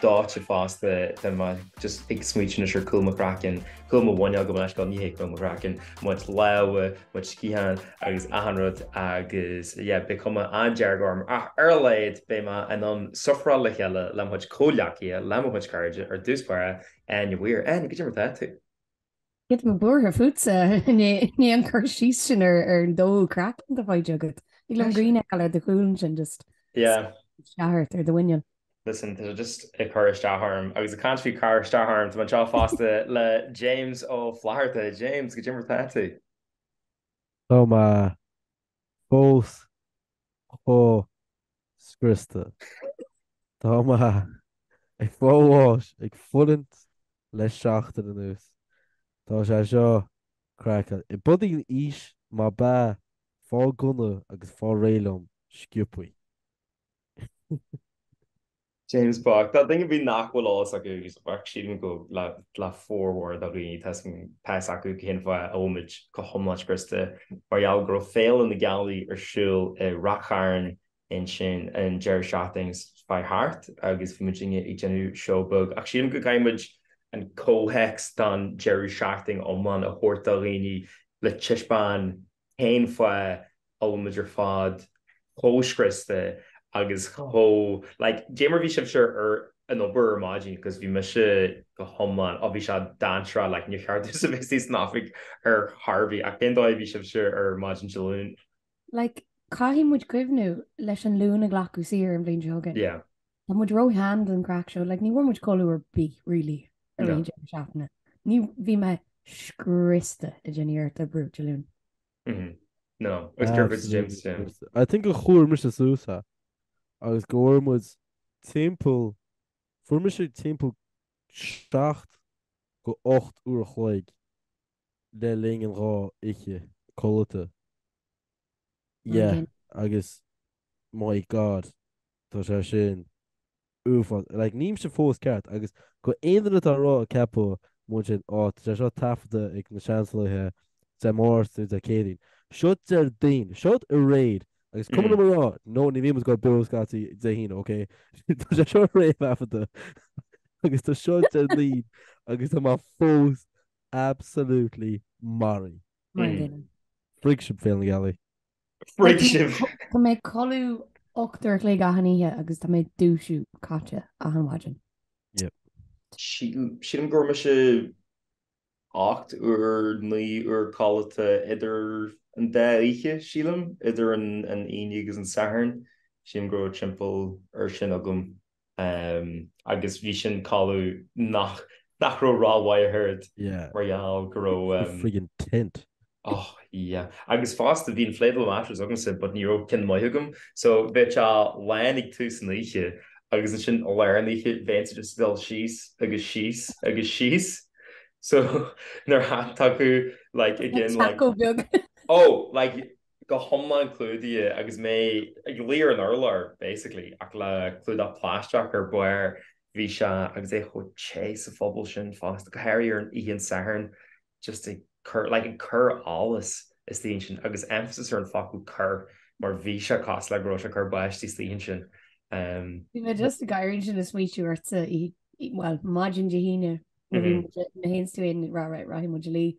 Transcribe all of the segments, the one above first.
Dóite fosta, tá mé just ag smaoitiú anois ar cúl mo chraicinn, cúl mo mhuiníl, gabh mo leithscéal, ní hé cúl mo chraicinn, mo chuid lámha, mo chuid sciatháin agus achan rud agus yeah, beidh cuma an-dearg orm ach ar a laghad beidh mé in ann sufferáil le chéile le mo chuid comhghleacaithe, le mo chuid cairde ar dtús báire, Áine Mhaoir, Áine, cad é mar atá tú? Tá mé buartha fútsa i ndiaidh an cur síos sin ar an dó craicinn atá faighte agat. Thig liom grian fheiceáil ar do chúl ansin just isteach ort ar do mhuineál. Listen, tá sé just ag cur isteach orm agus ag caint faoi chur isteach orm, tá mé anseo fosta le James Ó Flatharta. James, cad é mar atá tú. Tá mé fós chomh scriosta. Tá mé ag fáil bháis ag fulaingt le seachtain anuas. Tá sé seo craiceáilte. B'fhéidir an aois, má b'ea faigh gunna agus faigh réidh liom sciobtha. James bocht. Do dhaoine ar bith nach bhfuil a fhios acu agus sílim go le formhór do dhaoine tá a fhios acu cén fáth a bhfuilmid go hiomlán scriosta mar gheall go raibh Féile na Gealaí ar siúl i Ráth Chairn ansin an deireadh seachtaine seo chuaigh thart agus bhí muid ag déanamh seó beag ach sílim go gcaithfimid an comhthéacs don deireadh seachtaine iomlán a thabhairt do dhaoine le taispeáin cén fáth a bhfuil muid ar fad chomh scriosta agus chomh, like, cad é mar bhí sibhse ar an obair ar maidin agus bhí mise go hiomlán, ó bhí sé dainséarach, like, níor cheart dúinn a bheith istigh san oifig ar chor ar bith ach cén dóigh a bhí sibhse ar maidin Dé Luain? Like, caithfidh muid cuimhniú leis an Luan a glacadh saor an bhliain seo chugainn. Yeah. Tá muid ró-shean don chraic seo, like ní bhfuair muid codladh ar bith really ar an deireadh seachtaine. Ní, bhí mé scriosta le déanaí ar The Brut Dé Luain. Mhm. No, agus gur Brut de James Dé Luain. I think a chuir mise suas é agus go bhfuair muid timpeall, fuair mise timpeall seacht go ocht uair a chloig le linn an dhá oiche codlata. Yeah, agus my God, tá sé sin uafás. Like, nílimse fós ceart, agus d'aon duine atá ag rá, ag ceapadh, mhúin sin, Á, tá sé seo taifeadta ag na Seansálaithe Dé Máirt nó Dé Céadaoin. Seo Déardaoin, seo a réad, agus cuma liom a rá, no, ní bhíomas go beo scaití Dé hAoine, ok? Tá sé seo réamhthaifeadta, agus tá seo Déardaoin, agus tá mé fós Absolutely marbh. Mar sin. Frig sibh, Féile na Gealaí. Frig sibh. Tá mé ag codladh ocht uair a chloig achan oíche agus tá mé ag dúisiú caite achan mhaidin. Yep. Sílim go bhfuair mise ocht uair, naoi uair codlata idir an dá oíche, sílim, idir an Aoine agus an Satharn. Sílim go raibh timpeall air sin agam agus bhí sin cailleadh nach nach raibh rath mhaith ard mar gheall go raibh friggin tent. Oh yeah. Agus fosta bhí inflatable mattress agamsa but ní raibh ceann maith agam so bheadh sé lán ag tús an oíche agus ansin i lár an oíche bheinnse just dul síos agus síos agus síos so nuair a thagadh like again like oh like go hiomlán clúdaithe agus mé ag luí ar an urlár basically ach le clúdach plaisteach ar barr, bhí sé agus é chomh te sa phuball sin fosta, go háirithe ar an oíche an Satharn just ag cur like ag cur allas istigh ansin agus emphasis ar an focal cur mar bhí sé cosúil le go raibh sé ag cur báistí istigh ansin. Bhí mé just ag gáire ansin ag smaoitiú ortsa í well maidin Dé hAoine na hén tú in ra ra rahí mu lí.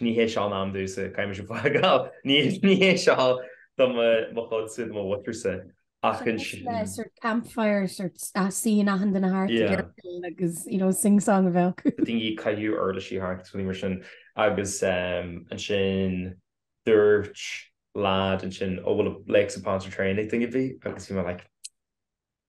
Ní hé seo an am domsa, caithfidh mise fágáil, ní hé seo do mo chuidse, do mo mhuintirse, ach ansin. Sort of sort campfire, sort of scene achan duine thart ag oirfill agus you know sing song ar bhealach. Daoine ag caitheamh uirlisí thart agus rudaí mar sin agus ansin dúirt lad ansin, oh bhfuil Lakes of Pontchartrain ag duine ar bith agus bhí mé like,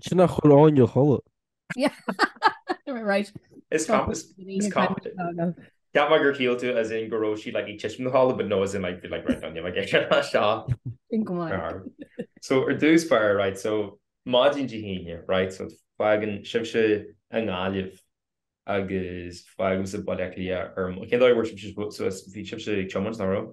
Sin a chuir Áine a chodladh. Is competent. Cheap mé gur shíl tú as in go raibh sí ag titim ina codladh but no as in like bhí like right Áine like ag seo seo. Sin go maith. So ar dtús b'fhearr right so maidin Dé hAoine right so fágann sibhse i nGaillimh agus fágaimse Baile Átha Cliath erm cén dóigh a bhfuair sibhse suas bhí sibhse ag tiomáint nach raibh?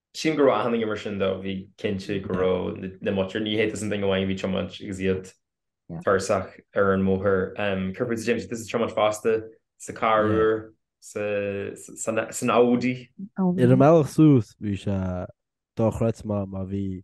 Sílim go raibh achan duine mar sin though, bhí cinnte go raibh na muitir, ní hé tusa an duine amháin a bhí tiomáint agus iad tuirseach ar an mbóthar. Céard fútsa James, tusa tiomáint fosta sa carr úr, san Audi? Ar an mbealach suas bhí sé dochreidte mar bhí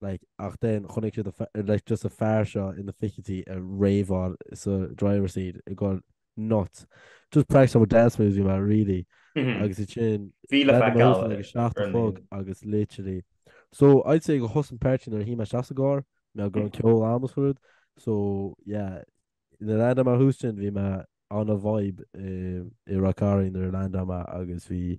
like, ach then chonaic siad a, like, just a fear seo ina fichidí ag raveáil sa driver seat ag goil nuts. Just practising my dance moves you know really. Agus iad sin, Bhí le feiceáil Random Mouse, like, ar seacht a an chlog líne. agus literally. So, I'd say go thosaigh an páirtí nuair a shuigh mé isteach sa gcarr, mé ag gabháil ceoil am is rud. So, yeah, nuair a land mé thuas ansin bhí mé on a vibe i, i Ráth Chairn nuair a land mé agus bhí,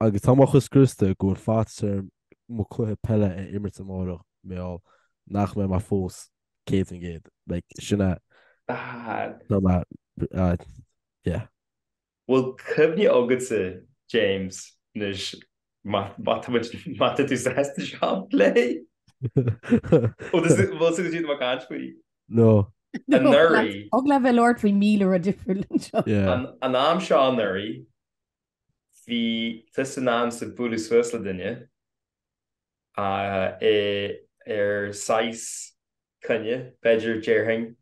Agus tá mé chomh scriosta go bhfuil faitíos orm mo chluiche peile a imirt amárach, mar gheall nach mbeidh mé fós 100%, like, sin a tá mé, ah, yeah. Bhfuil cuimhne agatsa, James, anois má má tá muid, má tá tú sásta seo a phlé? Bhfuil tú ag súil go dtí tú ag caint faoi? No. Anuraidh. Thig leat bheith ag labhairt faoi míle rud difriúil anseo. An am seo anuraidh bhí tusa in ainm is a bualadh suas le duine ar saghas coinne, b'fhéidir, déarfainn,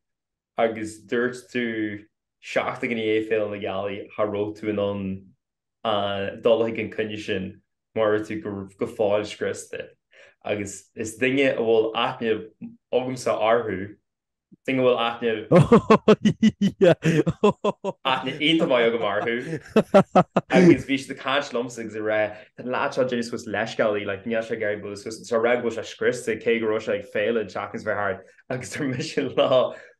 agus dúirt tú Seachtain i ndiaidh Féile na Gealaí cha raibh tú in ann dul chuig an coinne sin mar bhí tú go fóill scriosta agus is duine a bhfuil aithne agamsa orthu, duine a bhfuil aithne aithne iontach maith agam orthu agus bhí siad ag caint liomsa agus ag rá tá an leaid seo déanamh suas leithscéalta like níl sé géar go bhfuil suas, ag rá go bhfuil sé scriosta cé go raibh sé ag Féile an tseachtain is bheith thart agus tar mise lá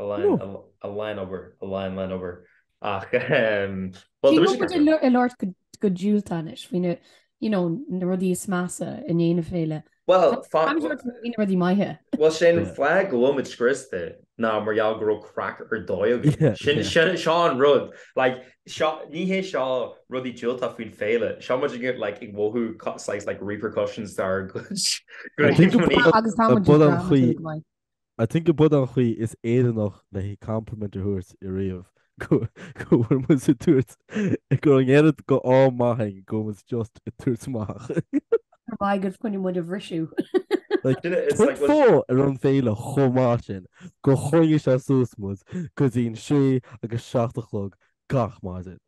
a line, a, a line obair, a line, line obair. Ach, um, well, Bhí muid ag labhairt go, go diúltach anois, faoi na, you know, na rudaí is measa i ndiaidh na Féile. Well, fa- Táimid ag iarraidh faoi na rudaí maithe. Well, sin fáth go bhfuil muid scriosta, ná mar gheall go raibh craic ar dóigh againn. Yeah, Sin, yeah. sin, seo an rud. Like, seo, ní hé seo rudaí diúltach faoin Féile. Seo muid ag, like, ag mhothú co- saghas, like, repercussions d'ár gcuid, gcuid Agus táimid ag Bud an dráma chaoi- go maith. I think gurb shiúd an chaoi is Éireannaí le haghaidh compliment a thabhairt i riamh go go bhfuil muid ag tabhairt amach go raibh an deireadh seachtaine chomh maith againn go bhfuil muid just ag tabhairt amach. Ar maith go gcoinneoidh muid a bhriseadh. Like tá vibe ar an bhféile chomh maith sin go gcoinneoidh sé suas muid go dtí an sé agus seacht a chlog gach maidin.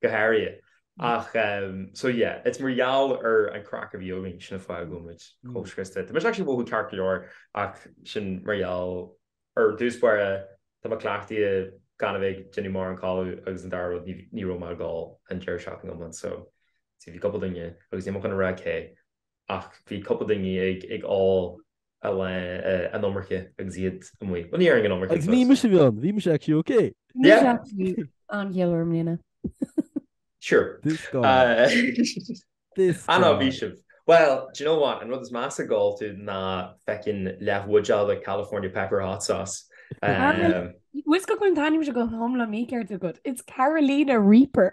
Go háirithe. Ach so yeah, it's mar gheall ar an craic a bhí againn sin an fáth go bhfuil muid chomh scriosta. Tá mise actually ag mothú ceart go leor ach sin mar gheall ar dtús báire tá mé cleachtaithe gan a bheith ag déanamh mórán codlata agus an dara rud ní ní raibh mé ag gol an deireadh seachtaine iomlán so bhí cúpla duine agus níl mé chun a rá cé ach bhí cúpla duine ag ag ól an iomarca agus iad amuigh. Bhuel ní déarfainn an iomarca agus. Agus bhí mise bhean, bhí mise actually ok. Ní raibh tú an-gheal orm lena. Sure. This guy. This guy. An-ádh bhí sibh. Bhuel, do you know what, an rud is measa a d'ól tú ná feckin leathbhuidéal de California pepper hot sauce. Tá a fhios agat go bhfuil an t-ainm seo go hiomlán mícheart agat, it's Carolina Reaper.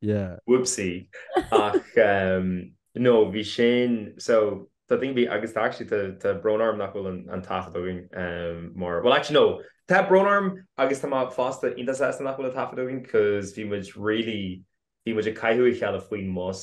Yeah. Whoopsie. Ach no, bhí sin, so an rud a bhí agus tá actually tá brón orm nach bhfuil an taifead againn mar, well actually no, tá brón orm agus tá mé fosta iontach sásta nach bhfuil an taifead againn 'cause bhí muid really, bhí muid ag cáineadh a chéile faoin mbus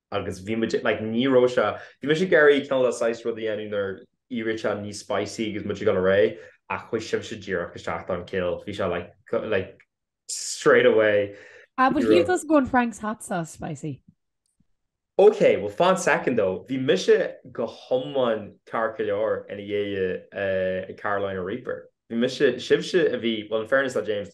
agus bhí muid like ní raibh sé bhí mise ag iarraidh cineál saghas rud a dhéanamh inar éirigh sé níos spicy agus muid ag goil ar aghaidh ach chuaigh sibhse díreach isteach don kill bhí sé like cu- like straight away Ah, but he does go on Frank's hot sauce spicy. Okay, well fan second though. Bhí mise go hiomlán ceart go leor ina dhiaidh uh, Carolina Reaper. Bhí mise sibhse a bhí well in fairness le James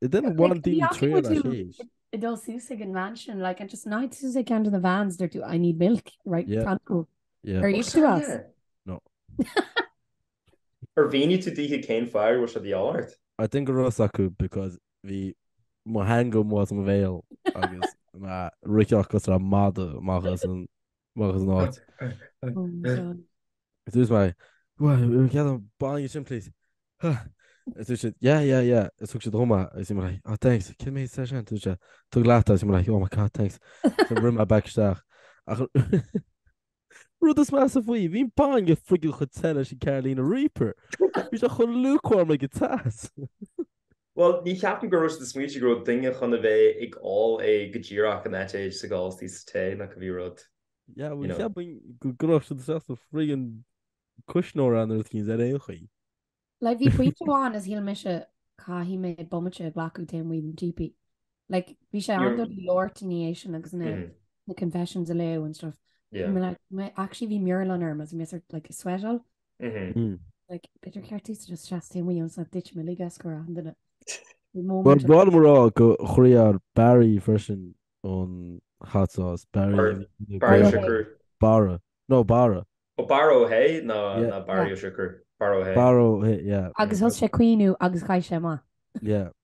It didn't want like, the trail at age. It all seems like a mansion, like and just night as I can to the vans. They're do I need milk, right? Yeah. Thank you. Yeah. Are you to us? No. Ar bhíní tú díthe céin fear bhfuil se dí áirt? I think go ras acu because bhí mo hangam was mo bhéal agus riceach go ra mada mágus an Amach as an áit. Is dúirt mé, Bhuel, cead an bainne sin, please. Ha! Is dúirt siad, Yeah, yeah, yeah. Is thug siad dhom é agus bhí mé like, Oh, thanks. Cé mhéad é sin? Dúirt sé, Tóg leat é agus bhí mé like, Oh my God, thanks. So rinne mé back isteach. Ach rud is measa faoi, bhí an bainne friggin' chomh te leis an Carolina Reaper. Bhí sé chomh lukewarm like go teas. Bhuel, ní cheapaim go raibh siad ag smaoineamh go raibh duine chun a bheith ag ól é go díreach go mbeadh sé ag gabháil sa tae nó cibé rud, Yeah, bhuel, cheapaim go raibh siad sásta friggin' cuisneoir ann ar an taoide ar aon chaoi. Like, bhí pointe amháin a shíl mise caithfidh mé bomaite a ghlacadh taobh amuigh den típí. Like, bhí sé an- dul a labhairt ina dhiaidh sin agus na Mhm. na confessions a léamh and stuff. Yeah. Bhí mé like, mé- actually bhí mearbhlán orm agus bhí mé sort of like, ag sweatáil B'fhéidir ceart is just seasamh taobh amuigh sa dit me lig as go raibh an duine. Well bhí mé ag rá gur chryáil Barry freisin ón hot sauce. Barry Barry Siochrú. Barra. No Barra. Ó Barra Ó hAodha ní Barry Ó Siochrú. Barra Ó hAodha. Barra Ó hAodha yeah. Agus thosaigh sé ag caoineadh agus chaith sé amach. Yeah.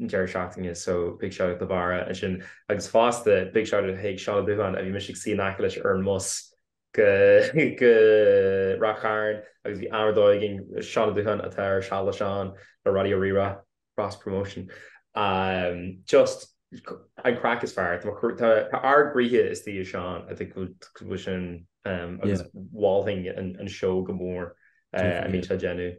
an deireadh seachtaine so big shout out do Bharra ansin agus fosta big shout out chuig Seán Ó Dubhchon a bhí mise ag suí in aice leis ar an mbus go Ráth Chairn agus bhí am ar dóigh againn, Seán Ó Dubhchon atá ar Seal le Seán le Raidió Rí-Rá, cross promotion, just an craic is fearr tá ár gcroíthe istigh i Seán a bhfuil sin agus mholfainn an seó go mór a bhíonn sé ag déanamh.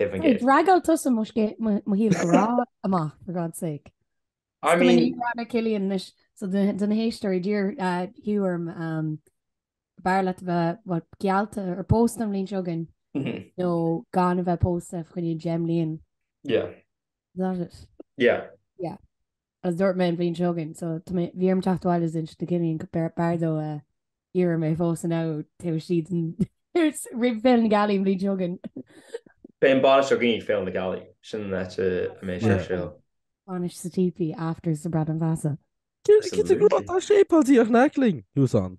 Draggáil tusa mo shaol grá amach for God's sake. I mean Ní raibh na Cillian anois so do na héisteoirí d'iarr Hugh orm an mb'fhearr leat a bheith geallta ar pósta an bhliain seo chugainn nó gan a bheith pósta fá choinne deich mbliain. Yeah. Is that it? Yeah. Yeah. Is dúirt mé an bhliain seo chugainn, so tá mé, bhí orm teacht abhaile is insint do Cillian, b'fhearr, b'fhearr dó iarraidh mé a phósadh am taobh istigh den, roimh Féile na Gealaí an bhliain seo chugainn. Beidh an bhainis againn ag Féile na Gealaí, sin an áit a mbeidh sé ar siúl. Bainis sa típí, afters sa Bradán Feasa. Cé tá sé ag plé? Tá sé ag plé ag Naikling, he was on.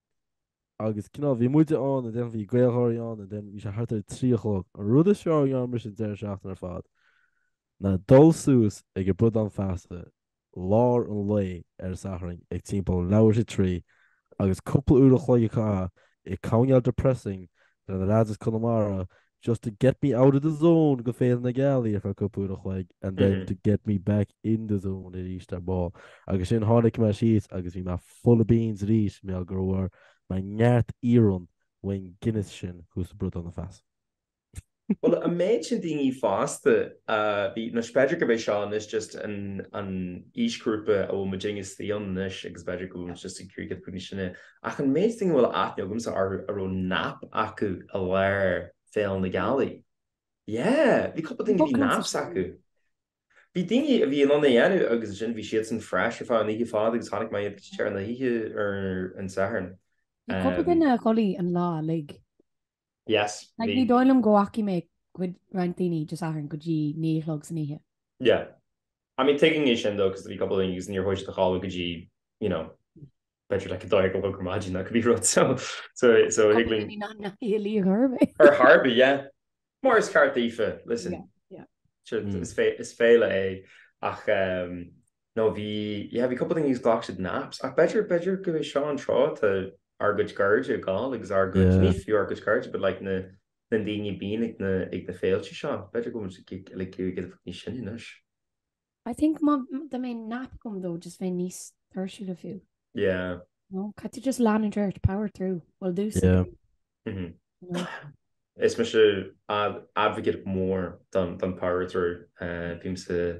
Agus you know, bhí muide ann and then bhí Gaelgeoirí ann and then bhí sé thart ar trí a chlog. An rud is fearr a rinne mise an deireadh seachtaine ar fad ná dul suas ag an Bradán Feasa lár an lae ar an Satharn ag timpeall leathuair tar éis a trí agus cúpla uair an chloig a chaitheamh ag canadh ceol depressing leis na leaids as Conamara Just to get me out of the zone ó Féile na Gealaí ar feadh cúpla uair a chloig and then to get me back in the zone arís ar ball. Agus sin tháinig mé síos agus bhí mé full of beans arís mar gur bhain mé neart iarann ón Guinness sin cos rud don fásta. Bhuel an méid daoine fásta a bhí, nó b'fhéidir gurb é seo anois just an aoisghrúpa a bhfuil muid inár suí ann anois agus b'fhéidir go bhfuil muid just ag éirí níos sine, Ach an méid daoine a bhfuil aithne agamsa orthu a raibh nap acu i lár Féile na Gealaí. Yeah, bhí cúpla daoine bhí naps acu. Bhí daoine a bhí in ann a dhéanamh agus ansin bhí siadsan fresh ar feadh na hoíche ar fad agus tháinig mai tear na oíche ar an Satharn. Cúpla duine a chodail an lá uilig. Yes. Like ní dóigh liom go bhfaca mé cuid roinnt daoine just ar an Satharn go dtí naoi a chlog san oíche. Yeah. I mean taking é sin though cos do bhí cupla daoine agus níor thóigh siad a cháileadh go dtí you know beidir like a dó dhéag a chlog ar maidin ná go bhí rud so so so thig linn. Ní ná naoi a liag orm é. Ar tharba yeah. Mar is ceart daofa listen. Yeah yeah. Is féile é ach um No bhí, yeah, bhí cúpla daoine agus ghlac siad naps. Ach b'fhéidir, b'fhéidir gurb é seo an tráth atá ár gcuid cairde ag gabháil agus ár gcuid, Yeah. ní fiú ár gcuid cairde, but like na, na daoine a bíonn ag na, ag na féilte seo. B'fhéidir go bhfuil muid ag, ag, like, ag éirí níos sine anois. I think dá mbeadh nap agam though just bheinn níos tuirsí fiú. Yeah. No, caithfidh tú just leanúint ort, power through. Bhfuil a fhios Yeah. agat, Mhm. you know. Is mise ad- advocate mór don, don power through. Eh, bím sa,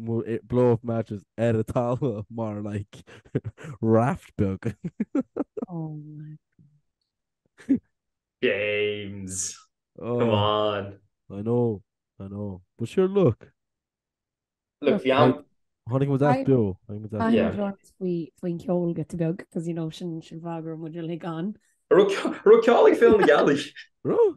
Agus blow up mattress ar an talamh mar like raft beag. Oh my god. James! Oh. Come on! I know, I know. But sure look. Look, bhí an. Tháinig muid as beo. Tháinig muid as beo. Tháinig muid as Faoin cheol giota beag, cos you know sin sin an fáth go raibh muid uilig ann. Raibh ceol ag Féile na Gealaí. Raibh?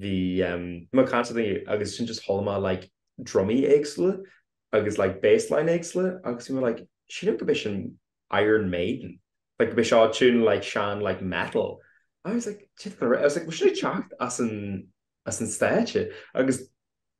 bhí mé i mo constantly agus ansin just chuala mé like drumaí éagsúla agus like bass line éagsúla agus bhí mé like sílim gurb é sin Iron Maiden like gurb é seo tune like sean like metal I was like I was like bhfuil sin ag teacht as an as an stáitse agus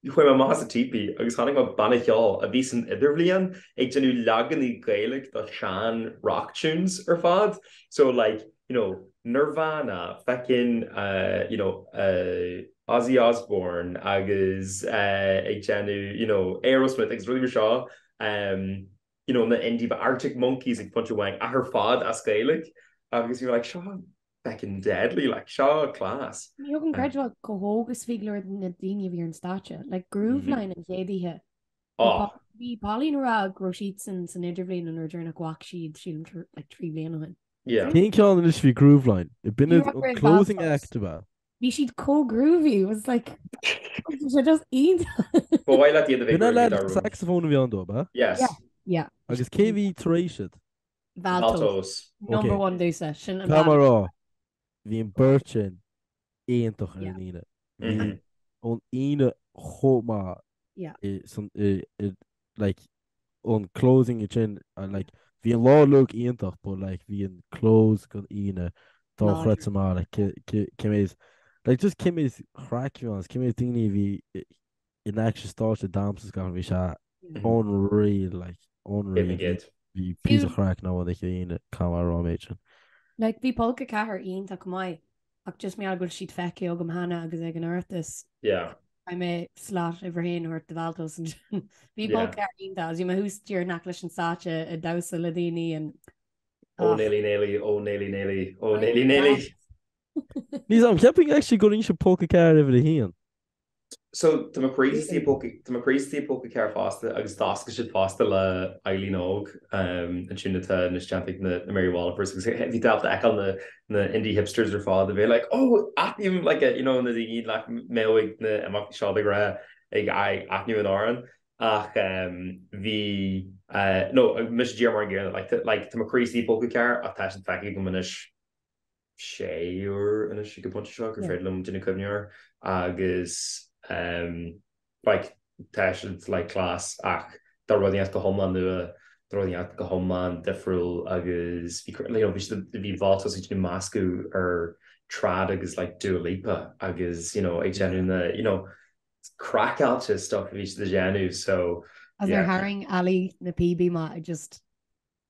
Chuaigh mé amach as an teepee agus chonaic mé banna ceoil a bhí san idirbhliain ag déanamh leaganaí Gaeilge do shean rock tunes ar fad so like you know Nirvana, feckin uh you know uh Ozzy Osbourne agus uh ag déanamh you know Aerosmith agus rudaí mar seo um you know na indie bands Arctic Monkeys ag pointe amháin ach ar fad as Gaeilge agus you know like seo feckin deadly like seo class. Ní thig liom creidiúint chomh hóg is bhí go leor na daoine a bhí ar an stáitse like Grooveline an chéad oíche. Oh. Bhí Pauline a rá go raibh siad san san idirbhliain an uair dheireanach a bhfaca siad sílim tar like trí bliana ó shin. Yeah. Cén ceann anois bhí Grooveline? B'in an closing act ab ea? Bhí siad chomh groovy it was like bhí sé just iontach. Ba mhaith leat iad a bheith B'in an groovy lead dá rún. saxophone a bhí ann dó ab ea? Yes. Yeah. Yeah. Agus cé bhí tar éis iad? Valtos. Number one domsa, sin tá mé a rá, bhí an beirt sin iontach ar an Aoine. Bhí an Aoine chomh maith i san i i like an closing ansin like bhí an lá luath iontach but like bhí an close don Aoine dochreidte maith like cé cé cé mhéad like just cé mhéad craic a bhí ann is cé mhéad daoine a bhí in aice an stáitse ag damhsa is gach rud bhí sé unreal like unreal Bhí gid. bhí píosa craic nó an oíche Aoine chomh maith a raibh méid sin. Like bhí Polca 4 iontach go maith ach just mar gheall go bhfuil siad feicthe agam cheana agus ag an Oireachtas Yeah. I may slot uimhir a haon a thabhairt do Valtos ansin. Bhí Yeah. Polca 4 iontach agus bhí mé thuas díreach in aice leis an stáitse ag damhsa le daoine an Oh ach nearly nearly oh nearly nearly oh nearly nearly. Níl a fhios agam ceapaim actually go ndéarfainnse Polca 4 uimhir 1. So tá mo chroí istigh i Polca 4 fosta agus d'oscail siad fosta le Eileen Óg ansin atá anois déanta ag na Mary Wallopers agus bhí tú ábalta a fheiceáil na indie hipsters ar fad a bhí like oh aithním like you know na daoine nach mbeadh ag na imeachtaí seo de ghnáth ag aithniú an amhráin ach bhí nó mise díreach mar an gcéanna like tá mo chroí istigh i Polca 4 ach tá siad feicthe agam anois sé uair anois ag an bpointe seo gur féidir liom déanamh cuimhne air agus like tá sé like class ach ba rud inteacht go hiomlán nua, ba rud inteacht go hiomlán difriúil agus bhí like you know bhí Valtos ag déanamh meascadh ar trad agus like Dua Lipa agus you know ag déanamh na you know craiceáilte stuff a bhí siad ag déanamh so yeah. Is nuair a tharraing Ali na píobaí amach i just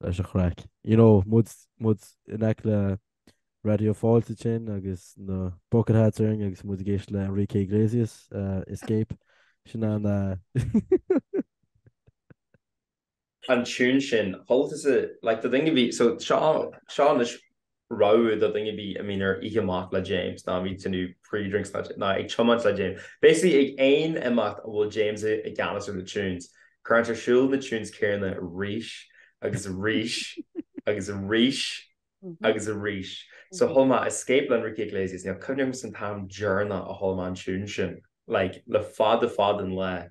leis an chraic. You know, muid, muid in aice le Raidió Fáilte ansin agus na bucket hats orainn agus muid ag éisteacht le Enrique Iglesias, eh, Escape, sin an eh, an tune sin, chualathas i, like, do dhuine ar bith, so seo, seo anois rabhadh do dhuine ar bith a mbíonn ar oíche amach le James nó a mbíonn ag déanamh pre-drinks nó ag tiomáint le James. Basically ag aon imeacht a bhfuil James i gceannas ar na tunes, cuireann sé ar siúl na tunes céanna arís agus arís agus arís agus arís. So chuala mé Escape le Enrique Iglesias, níl cuimhne agam san t-am deireanach a chuala mé an tune sin, like, le fada fada an lá.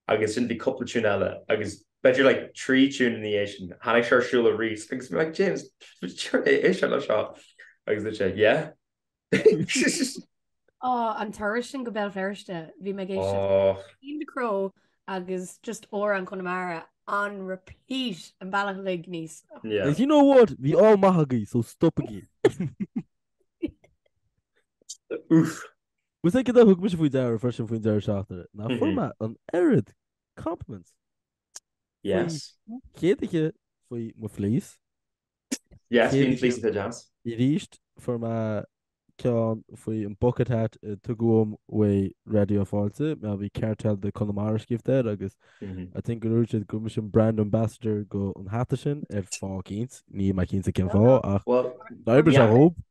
agus sin bhí cúpla tiún eile agus b'fhéidir like trí thiún ina dhiaidh sin tháinig sé ar siúl aríst agus mé like James céard é é seo le seo agus dúirt sé yeah Á an turas sin go Béal Feirste bhí mé géis in the crow agus just óir an Conamara on repeat an bealach uilig aníos yeah you know what bhí all maith agaibh so stopaigí Úf Más ea, cad a thug mise faoi deara freisin faoin deireadh seachtaine, ná fuair mé an oiread compliments faoi chéad oíche faoi mo fleece. Yes, bhí an fleece an-deas. Arís, fuair mé ceann faoi an bucket hat a tugadh dom uaidh Raidió Fáilte, mar bhí Cartel de Conamara scríofa air agus I think go dúirt siad go raibh mise an brand ambassador go an hata sin ar fáth eicínt, níl mé cinnte cén fáth ach d'oibrigh sé dhóibh.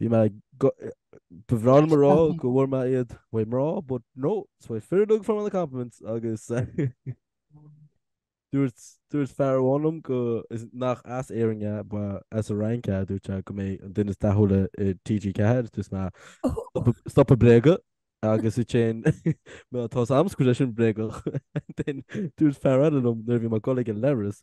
Bhí mé ba bhreá liom a rá go bhfuair mé iad uaidh mná, but no, is uaidh fir a fuair mé na compliments agus dúirt dúirt fear amháin liom go is nach as Éirinn é ba as an bhFrainc é dúirt sé go mba mé an duine is dathúla i TG4 dúirt mé stop ag bréagadh agus i téin mé atá am go leis sin bréagadh dúirt fear eile liom nuair a bhí mé ag goil ag an leithreas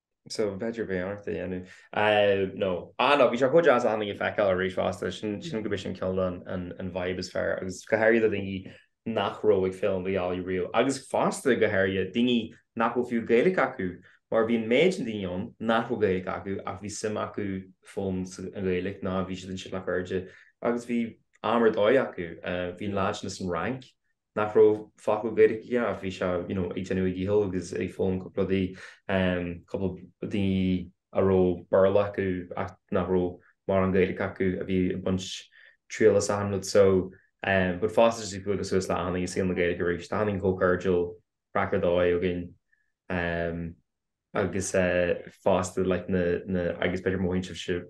so bheidir bhí ort a dhéanú eh, nó ah, nó bhí sé chuid as anna feiceáil a rís fásta sin sin go bh sin ceol an bhaib is fear agus go hairí do daoine nach róigh film go dheálaí riú agus fásta go hairí daoine nach bhfuil fiú gaalaigh acu mar bhíon méid an daoine ann nach bhfuil gaalaigh acu ach bhí sim acu fóm an gaalaigh ná bhí si an sin nach airde agus bhí amar dóigh acu eh, bhíon láid na san rank nach raibh focal Gaeilge aige ach bhí sé you know ag déanamh a dhícheall agus ag foghlaim cúpla rudaí, cúpla daoine a raibh Béarla acu ach nach raibh mórán Gaeilge acu a bhí ag baint triail as achan rud so but fosta just ag bualadh suas le achan nduine i saol na Gaeilge arís. Tá achan nduine chomh cairdiúil craic ar dóigh againn agus fosta like na na agus b'fhéidir mo thuinse sibh.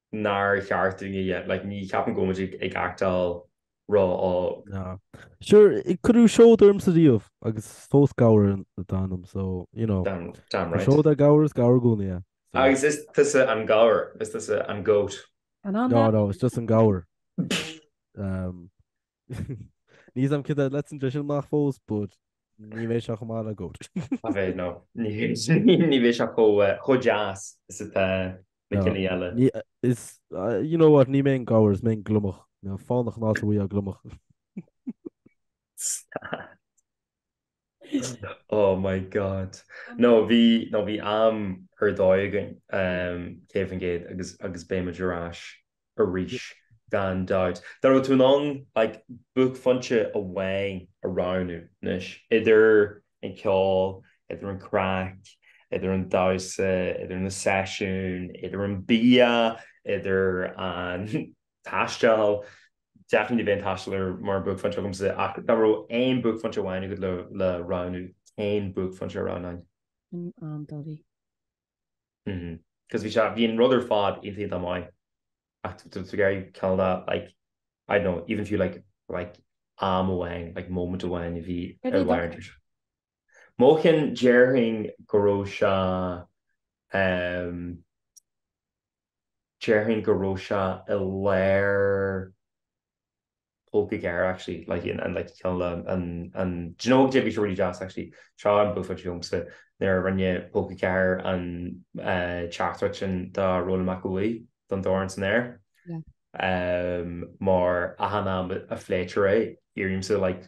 nár cheart dúinn a dhéanamh, like you can't go into an actual rud sure cuireadh seoda ormsa riamh agus fós gabhar atá ionam so you know seod a gabhar is gabhar gúnaí a agus is tusa an gabhar is tusa an goat no no it's just an gabhar um Níos am caite leis an tréas sin amach fós but ní bheidh seo chomh maith le goat. A bheith nó ní ní bheidh seo chomh chomh deas is atá na cinn eile. Ní is you know what ní mé an gabhar is mé an gliomach. Fánach an áit a bhfuighfeá gliomach. Stad. Oh my God. Nó bhí nó bhí am ar dóigh againn um, cé bith ar bith agus agus beimid ar ais arís gan dabht. Dá raibh tú in ann like buaicphointe amháin a roghnú anois idir an ceol, idir an craic, idir an damhsa, idir na seisiúin, idir an bia, idir an taisteal, definitely b'é an taisteal an buaicphointe agamsa ach dá raibh aon bhuaicphointe amháin agat le roghnú, cén buaicphointe a roghnófá? Sin an dóigh. Mhm. Cos bhí sé, bhí an rud ar fad iontach maith ach do bheadh ag ceann dá like, I don't know, even if you like like am amháin, like moment amháin a bhí ar an bharr idir seo. Mo cheann, déarfainn go raibh sé, ehm, déarfainn go raibh sé i lár Póca Ceathair actually like in and like ceann le an an do you know ag déanamh sé really deas actually seo an buaicphointe domsa nuair a rinne Póca Ceathair an teachtaireacht sin do Rónán Mac Aodha don dorn san aer mar achan am a phléitear é iarraímse like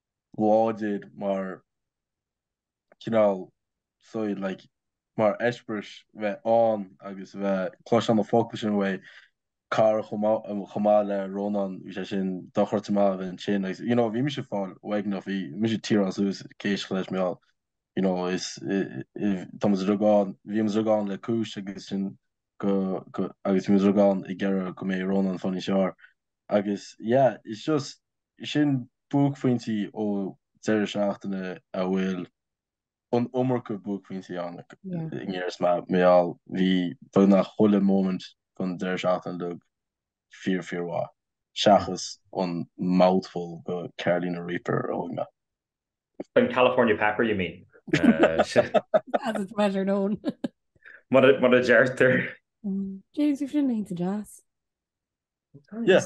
láidir mar chineál saoil, like mar eispéireas bheith ann agus bheith ag cloisteáil na focail sin ó chara chomh maith chomh maith le Rónán bhí sé sin dochreidte maith a bheith ansin agus you know bhí mise ag fáil uaigneach bhí mise tearáil suas céist leis mé you know is tá muid uilig ann bhí muid uilig ann le cúis agus sin go agus bhí muid uilig ann ag iarraidh go mbeadh Rónán ann inár measc agus yeah it's just Sin buaicphointí ó deireadh seachtaine a bhfuil an iomarca buaicphointí ann i ndáiríre mar a mheall bhí beagnach chuile moment den deireadh seachtaine beag fíor fíor mhaith, seachas an mouthful de Carolina Reaper a thóg mé. An California Pepper you mean? As it's better known. Mar a deirtear. James, bhí sin iontach deas. Yeah.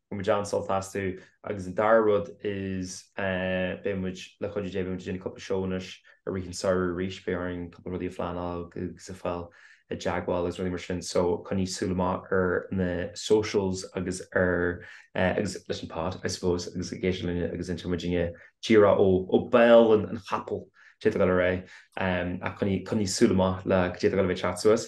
Bhain muid an-sult astu agus an dara rud is beidh muid le cuidiú Dé, beidh muid ag déanamh cúpla shows i rith an tsamhraidh arís, beidh orainn cúpla rudaí a phleanáil agus a fáil i dteagmháil agus rudaí mar sin so coinnigh súil amach ar na socials agus ar agus leis an pod I suppose agus ag éisteacht linn agus inseoidh muid daoibh díreach ó ó bhéal an an chapaill, cad é tá ag gabháil ar aghaidh, ach coinnigh coinnigh súil amach le cad é tá ag gabháil a bheith ag teacht suas.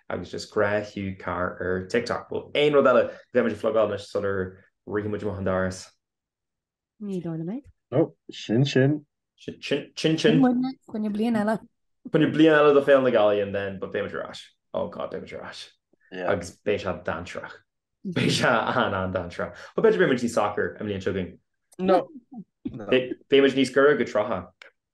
agus Is Grá Hugh Carr ar TikTok. Bhuel, aon rud eile go bhféadfadh muid a phlugáil anois sular rithfidh muid amach an doras? Ní dóigh liom é. Ó, sin sin. Sin sin. Sin bliain eile. Bliain eile do Pheil na Gaillimhe and then, but beidh muid ar ais. Oh God, beidh muid ar ais. Yeah. Agus beidh sé dáigh-intreach. Beidh sé an-an-dainntreach. Ó, b'fhéidir beidh muid níos socair an bhliain seo chugainn. No. Beidh muid níos gaire go trátha.